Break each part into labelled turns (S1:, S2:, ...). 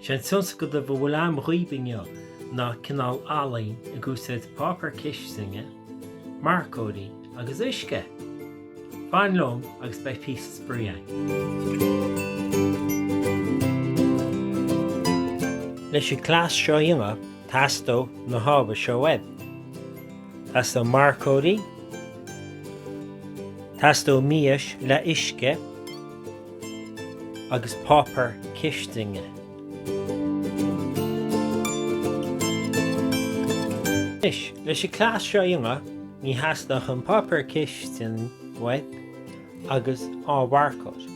S1: Is é an tionscadal a bhfuil agam dhaoibh inniu ná cineál ealaín ag úsáid páipéar cistine, marcóirí agus uisce! Fan liom agus beidh píosa spraoi againn! Leis an gcleas seo a dhéanamh teastóidh na hábhair seo uaibh, Teastóidh marcóirí, teastóidh mias le huisce, agus páipear cistine. Anois, leis an cleas seo a dhéanamh, ní theastaíonn ach an páipéar cistine uait agus dhá mharcóir.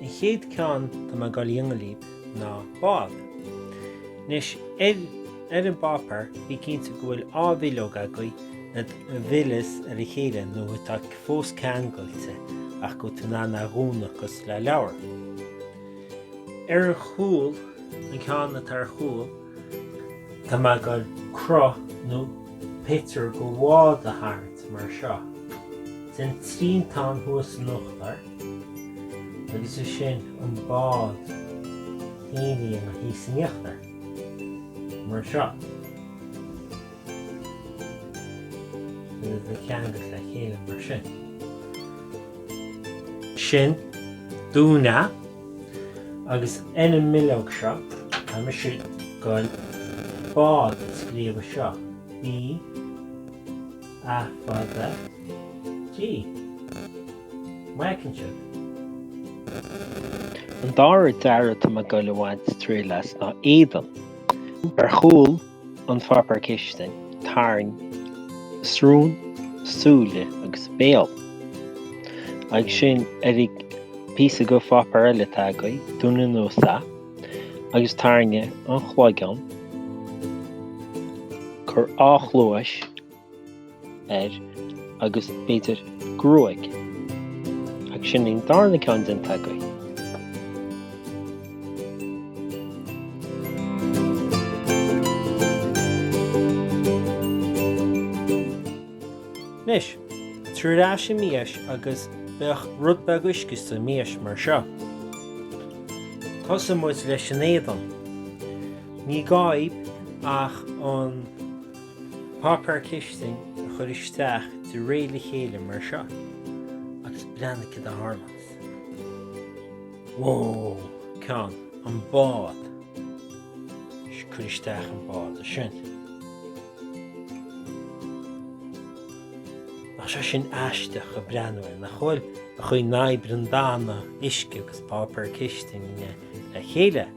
S1: An chéad ceann, tá mé ag goil a dhéanamh libh. ná bád. Anois, ar an bpáipéar, bí cinnte go bhfuil dhá bhileog agaibh a fhilleas ar a chéile nó atá fós ceangailte ach go bhfuil tú in ann é a dhúnadh cosúil le leabhar. Ar an gcúl, an ceann atá ar chúl, Tá mé ag goil cruth nó pictiúr de bhád a tharraingt mar seo déan triantán thuas in uachtar agus ansin an bád féin thíos in íochtar mar seo. iad a cheangal le chéile mar sin. ansin dún é agus ar an mbileog seo tá mise ag goil bád a scríobh anseo b a fada d. An bhfeiceann sibh? An dara dearadh atá mé ag goil a bhaint trí leas ná Éadan. Ar chúl an pháipéar cistine, tarraing srón, súile agus béal. Agus ansin ar an bpíosa de pháipéar eile atá agat, dún anuas é agus tarraing an cloigeann, cuir dhá chluais, air agus, b'fhéidir, gruaig. Ach sin an darna ceann déanta againn. Anois, tabhair ar ais an mhias agus beidh rud beag uisce sa mias mar seo. Tosóidh muid leis an éadan. Ní gá ach an. Páipéar cistine a chur isteach de réir a chéile mar seo agus breathnaigh céard a tharlaíonns. Whoa! An ceann, an bád. Cuir isteach an bád ansin. Nach shin aisteach ag breathnú, nach bhfuil? ag cur na braonta uisce agus páipéar cistine le chéile.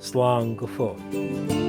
S1: slán go fóill.